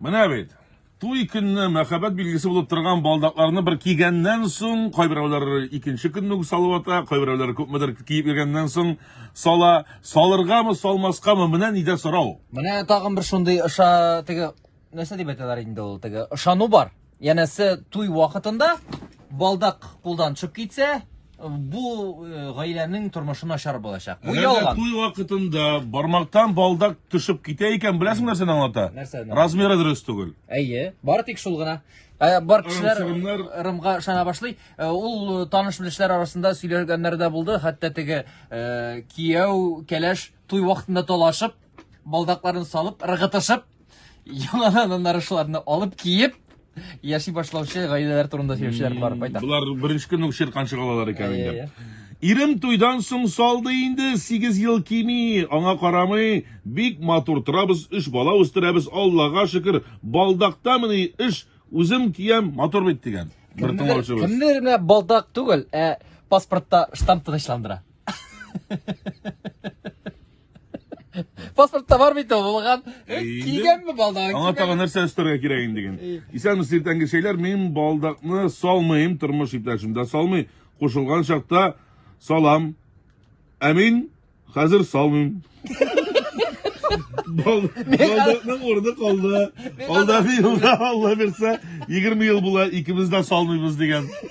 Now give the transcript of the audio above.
Менә бит. Туй көнне мәхәббәт билгесе булып торган балдакларны бер кигәннән соң, кайберәүләр икенче көнне үк салып ата, кайберәүләр күпмедер киеп йөргәннән соң сала. Салыргамы, салмаскамы, менә нидә сорау. Менә тагын бер шундый ыша теге нәрсә дип әйтәләр инде ул теге ышану бар. Янәсе туй вакытында балдак кулдан төшеп китсә, бу э, гаиләнең тормышы начар булачак. Бу Әгәр дә ялган. туй вакытында бармактан балдак төшеп китә икән, беләсең нәрсәне аңлата? Нәрсәне? Размеры дөрес түгел. Әйе, бары тик шул гына. Ә, Бар кешеләр Ырым-сырымнар. ырымга ышана башлый. Ә, Ул таныш белешләр арасында сөйләгәннәр дә булды. Хәтта теге э, кияү, кәләш туй вакытында талашып, балдакларын салып, ыргытышып, яңадан аннары шуларны алып киеп, яши башлаучы гаиләләр турында сөйләүчеләр бар байтак. Болар беренче көнне үк чиркан чыгалар икән Әйе, инде. әйе. Ирем туйдан соң салды инде, 8 ел кими, аңа карамый, бик матур торабыз, өч бала үстерәбез, Аллага шөкер, балдактамыни эш, үзем киям, матур бит дигән. Бер Кемнедер тыңлаучыбыз. кемнедер менә балдак түгел, ә паспортта штамп тынычландыра. Паспортта бар бит ул булган. Кигәнме балдагын? Аңа тагы нәрсә өстәргә кирәк инде ген. Исәнме сиртәнге шәйләр, мин балдакны салмыйм, тормыш иптәшем дә салмый. Кушылган чакта салам. Ә мин хәзер салмыйм. Балдакның урыны калды. Алдагы елда Алла бирсә, 20 ел була, икебез дә салмыйбыз дигән.